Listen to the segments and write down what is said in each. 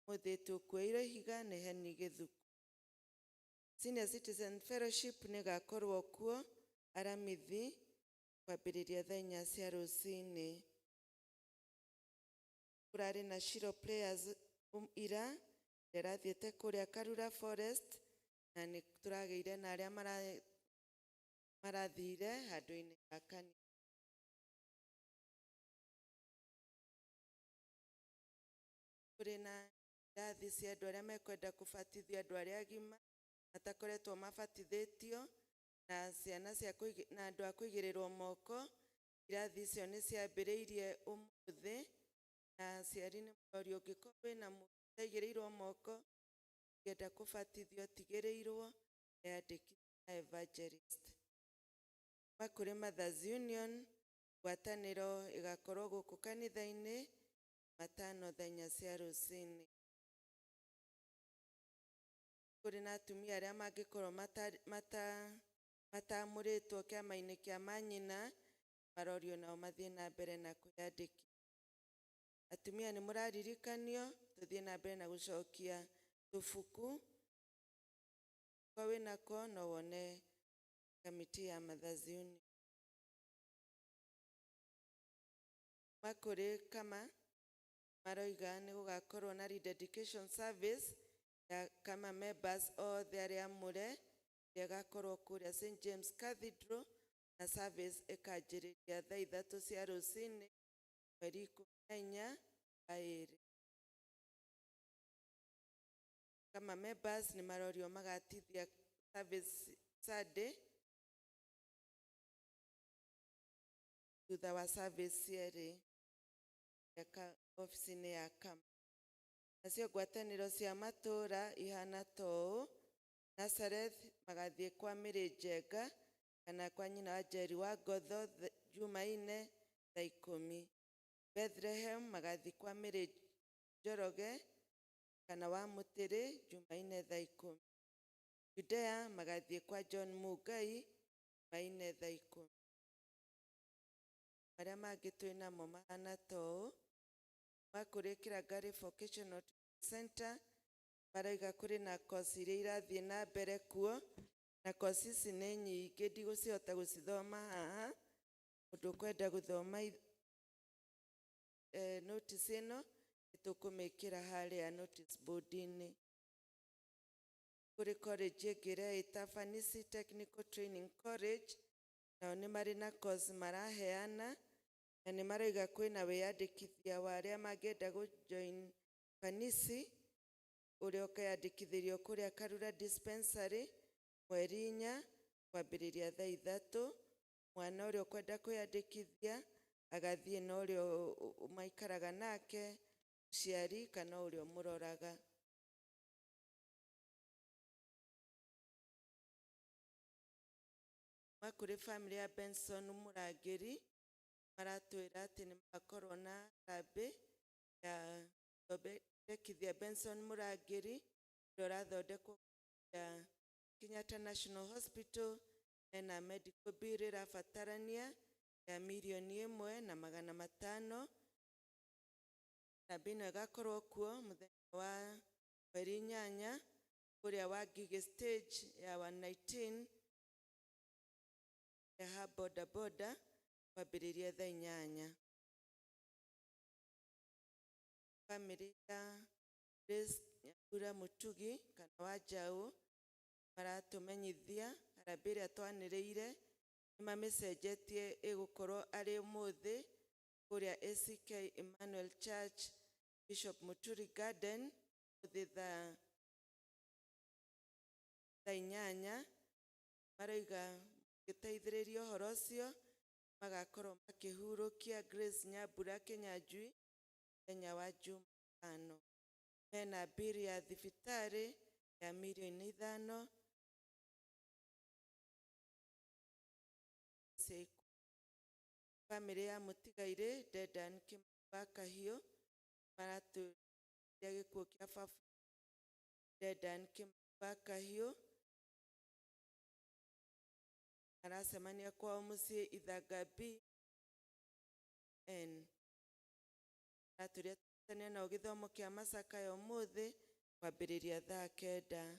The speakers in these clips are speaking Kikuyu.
mũthĩtwo kuoirwo ihiga nĩ Henry Gĩthuku. Senior Citizen Fellowship nĩgakorwo kuo aramithi kwambĩrĩria thaa inya cia rũcinĩ. Kũrarĩ na Shiro Players um, ira ĩrĩa ĩrathiĩte kũrĩa Karura Forest na nĩ tũragĩire na arĩa mara, marathire handũ-inĩ ha kanitha. kũrĩ na irathi cia andũ arĩa mekwenda kũbatithio andũ arĩa agima matakoretwo mabatithĩtio na ciana cia kũigi- na andũ a kũigĩrĩrwo moko irathi icio nĩ ciambĩrĩirie ũmũthĩ na aciari nĩ mũrorio ũngĩkorwo wĩna mũndũ ũtaigĩrĩirwo moko ũngĩenda kũbatithio ũtigĩrĩirwo eyandĩkithie na evangelist kuma kũrĩ mothers union ngwatanĩro ĩgakorwo gũkũ kanitha-inĩ matano thenya cia rũcinĩ. Nĩ kũrĩ na atumia arĩa mangĩkorũo mataamũrĩtwo kĩama-inĩ kĩa manyina, marorio nao mathiĩ na mbere na kwĩyandĩkithia. Atumia nĩ mũraririkanio tũthiĩ na mbere na gũcokia tũbuku angĩkorũo wĩ nako no wone kamiti ya Mother's Union. ma kũrĩ kama maroiga nĩ gũgakorwo na rededication service ya kama members othe arĩa amũre ĩrĩa ĩgakorwo kũrĩa St James Cathedral na service ĩkanjĩrĩria thaa ithatũ cia rũcinĩ mweri ikũmi na inya wa ĩrĩ. Kama members nĩ marorio magatithia service Sunday Thutha wa service yerĩ ya ka- obici-inĩ ya kama nacio ngwatanĩro cia matũũra ihana ta ũũ Nazareth magathiĩ kwa Mĩrĩ Njenga kana kwa nyina wa Njeri wa Ngotho th- Jumaine thaa ikũmi Bethlehem magathiĩ kwa Mĩrĩ Njoroge kana wa Mũtĩrĩ Jumaine thaa ikũmi Judea magathiĩ kwa John Mungai Jumaine thaa ikũmi marĩa mangĩ twĩ namo mahana ta ũũ, ma kũrĩ Kĩrangari Vocational Training Centre, marauga kũrĩ na koci iria irathiĩ na mbere kuo, na koci ici nĩ nyingĩ ndigũcihota gũcithoma haha, mũndũ ũkwenda gũthoma i- eh notice ĩno, nĩtũkũmĩkĩra harĩa notice board -inĩ. Kũrĩ college ĩngĩ ĩretwo Fanisi Technical Training College, nao nĩ marĩ na kozi maraheana na nĩ marauga kwĩna wĩyandĩkithia wa arĩa mangĩenda gũ join Kanici ũrĩa ũkeyandĩkithĩrio kũrĩa Karura Dispensary mweri inya kwambĩrĩria thaa ithatũ. Mwana ũrĩa ũkwenda kwĩyandĩkithia agathiĩ na ũrĩa maikaraga nake, mũciari kana ũrĩa ũmũroraga. kuma kũrĩ bamĩrĩ ya Benson Mũrangĩri maratwĩra atĩ nĩ magakorwo na harambĩ ya gũthondekithia Benson Mũrangĩri ũrĩa ũrathondekwo ya Kenyatta National Hospital ena medical bill ĩrabatarania ya mirioni ĩmwe na magana matano. Harambĩ ĩno ĩgakorwo kuo mũthenya wa mweri inyanya kũrĩa Wangigĩ stage ya 119 ha boda boda kwambĩrĩria thaa inyanya. Bamĩrĩ ya Grace Nyambura Mũtugi kana Wanjaũ maratũmenyithia harambĩ ĩrĩa twanĩrĩire nĩ mamĩcenjetie ĩgũkorwo arĩ ũmũthĩ kũrĩa ACK Emmanuel Church Bishop Mũturi Garden ũmũthĩ thaa thaa inyanya marauga gĩteithĩrĩria ũhoro ũcio magakorwo makĩhurũkia Grace Nyambura Kĩnyanjui mũthenya wa Jumatano. Mena mbiri ya thibitarĩ ya mirioni ithano cia ikuũ. Bamĩrĩ ya mũtigairĩ Dedan Kimani wa Kahiũ maratũria gĩkuũ kĩa baba Dedan Kimani Bakahio arasemania kwao musie ithaga B N araturia tutanio nao githomo kia masaka ya umuthi kwambiriria thaa kenda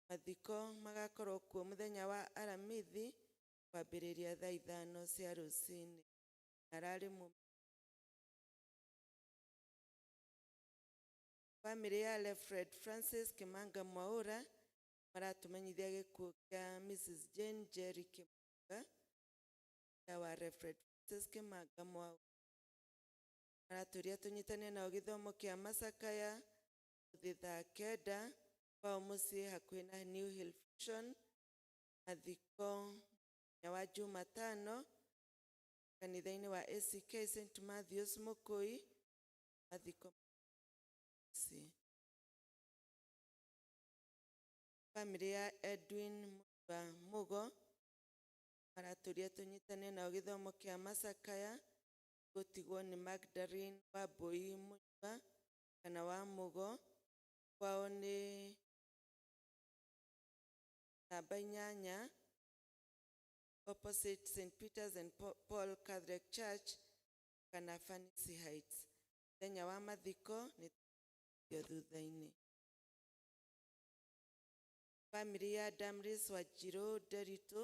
mathiko magakorwo kuo muthenya wa aramithi kwambiriria thaa ithano cia rucini arari mu Bamĩrĩ ya Rev Fred Francis Kĩmanga Mwaũra maratũmenyithia gĩkuũ kĩa Mrs Jane Njeri Kĩmanga mũtumia wa Rev Francis Kĩmanga Mwaũra. Maratũria tũnyitanĩre nao gĩthomo kĩa macakaya ũmũthĩ thaa kenda kwao mũciĩ hakuhĩ na New Hill Fusion mathiko mũthenya wa Jumatano kanitha-inĩ wa ACK St Matthews Mũkũi mathiko ase. Family ya Edwin Mutua Mugo maratũria tũnyitane nao gĩthomo kĩa macakaya gũtigwo nĩ Magdalene Wambũi Mutua kana wa Mugo kwao nĩ namba inyanya opposite St Peter's and Pa- Paul Catholic Church kana Fancy Heights mũthenya wa mathiko nĩ tũkũrio thutha-inĩ family ya Damris Wanjirũ Nderitu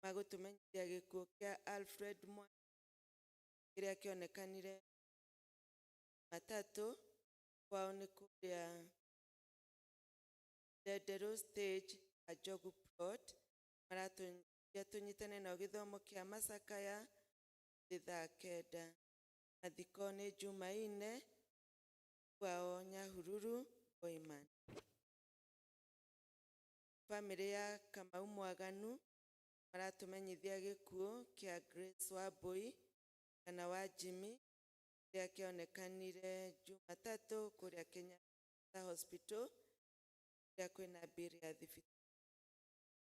magũtũmenyithia gĩkuũ kĩa Alfred Mwa kĩrĩa kĩonekanire matatũ kwao nĩ kũrĩa Ndenderũ stage Kanjogu plot maratũnyia tũnyitane nao gĩthomo kĩa macakaya thutha kenda mathiko nĩ Jumaine kwao Nyahururu Boiman. Bamĩrĩ ya Kamau Mwaganu maratũmenyithia gĩkuũ kĩa Grace Wambũi kana wa Jimmy kĩrĩa kĩonekanire Jumatatũ kũrĩa Kenyatta Hospital kũrĩa kwĩna bill ya thibitarĩ.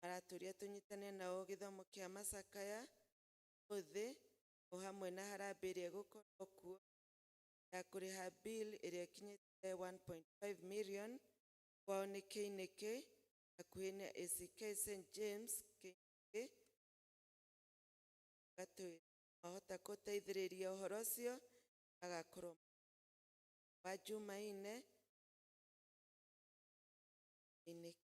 Maratũria tũnyitane nao gĩthomo kĩa macakaya ũmũthĩ o hamwe na harambee ĩrĩa ĩgũkorwo kuo ya kũrĩha bill ĩrĩa ĩkinyĩte 1.5 million kwao nĩ Kĩinĩkĩ hakuhĩ na ACK St James Kĩinĩkĩ gatwĩra mahota kũteithĩrĩria ũhoro ũcio magakorwo wa Jumaine Kĩinĩkĩ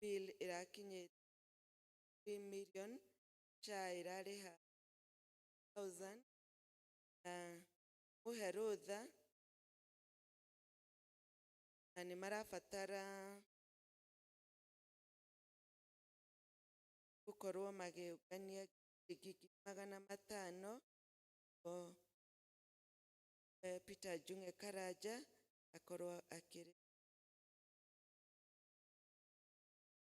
bill ĩrakinyĩte three million, SHA ĩrarĩha thousand, na mũhe rũtha, na nĩ marabatara gũkorwo magĩũngania ciringi magana matano, nĩguo Peter Njung'e Karanja akorwo akĩrĩha.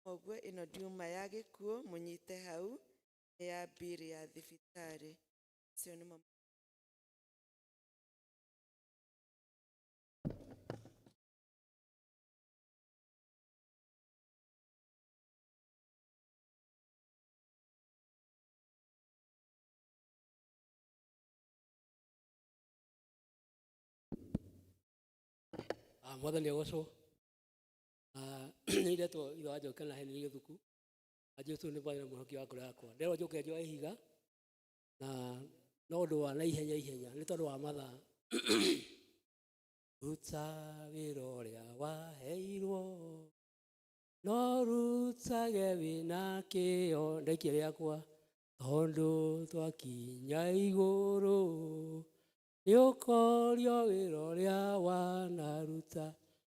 Koguo ĩno ndiuma ya gĩkuũ mũnyite hau nĩ ya bill ya thibitarĩ. Acio nĩmo Ah, mwathani agocwo Ah, nä iretwo ithe wa njoke na heni gä thuku na jesu nä mwarä na må hoki wa ngoro yakwa nderwo njå ke njoe ihiga na no å ndå wa na ihenya ihenya nä tondå wa mathaa ruta wä ra å rä a waheirwo no rutage wä na kä o ndaikia rĩakwa tondũ twakinya igũrũ nĩ ũkorio wĩra ũrĩa wanaruta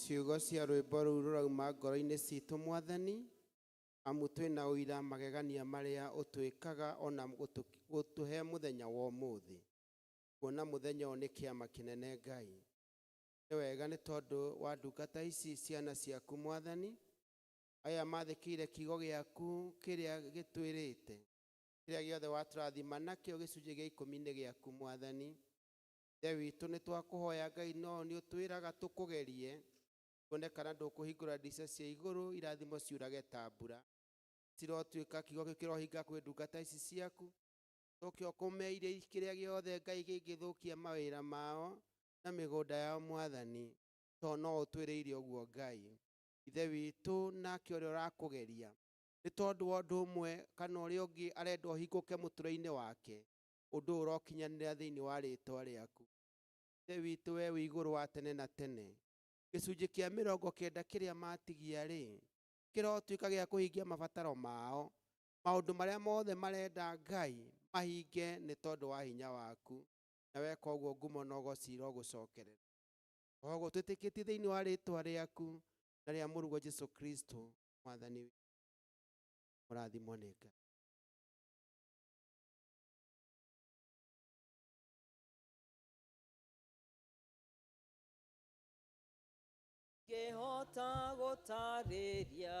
ciugo cia rwĩmbo rũu rũrauma ngoro-inĩ citũ mwathani amu twĩna ũira magegania marĩa ũtwĩkaga ona gũtũhe mũthenya wa ũmũthĩ kuona mũthenya ũyũ nĩ kĩama kĩnene ngai Nĩ wega nĩ tondũ wa ndungata ici ciana ciaku, Mwathani, aya maathĩkĩire kiugo gĩaku kĩrĩa gĩtwĩrĩte. Kĩrĩa gĩothe watũrathima nakĩo gĩcunjĩ gĩa ikũmi nĩ gĩaku, Mwathani. Ithe witũ, nĩ twakũhoya, Ngai, no nĩ ũtwĩraga tũkũgerie, tuone kana ndũkũhingũra ndirica cia igũrũ, irathimo ciurage ta mbura. Cirotuĩka kiugo kĩu kĩrohinga kwĩ ndungata ici ciaku, ũcoke ũkũmeire kĩrĩa gĩothe, Ngai, kĩngĩthũkia mawĩra mao, na mĩgũnda ya mwathani, tondũ no ũtwĩrĩire ũguo Ngai, Ithe witũ, nake ũrĩa ũrakũgeria, nĩ tondũ wa ũndũ ũmwe kana ũrĩa ũngĩ arenda ũhingũke mũtũrĩre-inĩ wake, ũndũ ũyũ ũrokinyanĩra thĩinĩ wa rĩĩtwa rĩaku. Ithe witũ, wee wĩ igũrũ wa tene na tene. Gĩcunjĩ kĩa mĩrongo kenda kĩrĩa matigia-rĩ, kĩrotuĩka gĩa kũhingia mabataro mao, maũndũ marĩa mothe marenda Ngai mahinge nĩ tondũ wa hinya waku. na weka ũguo ngumo na ũgoci irogũcokerera. O ũguo twĩtĩkĩtie thĩinĩ wa rĩtwa rĩaku na rĩa mũruguo Jesu Kristo mwathani witũ. Mũrathimwo nĩ Ngai. ngĩhota gũtarĩria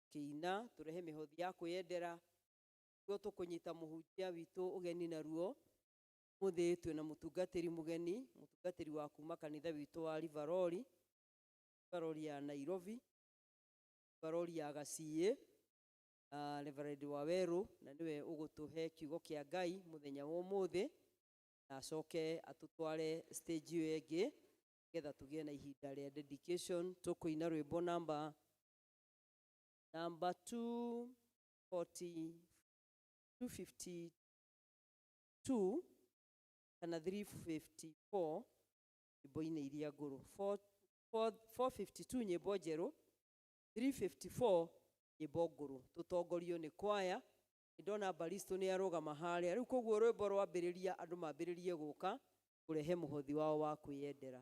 Kĩina, tũrehe mĩhothi ya kwĩyendera, nĩguo tũkũnyita mũhunjia witũ ũgeni naruo. Ũmũthĩ twĩna mũtungatĩri mũgeni, mũtungatĩri wa kuma kanitha witũ wa Rivarori, Rivarori ya Nairobi, Rivarori ya Gaciĩ, uh, Reverend Wawerũ, na nĩwe ũgũtũhe kiugo kĩa Ngai mũthenya wa ũmũthĩ, na acoke atũtware stage ĩyo ĩngĩ, nĩgetha tũgĩe na ihinda rĩa dedication. Tũkũina rwĩmbo namba Number 240, 252 kana 354 nyĩmbo-inĩ iria ngũrũ 452 nyĩmbo njerũ 354 nyĩmbo ngũrũ tũtongorio nĩ kwaya nĩ ndona baristo nĩ arũgama harĩa rĩu koguo rwĩmbo rwambĩrĩria andũ mambĩrĩrie gũka kũrehe mũhothi wao wa kwĩyendera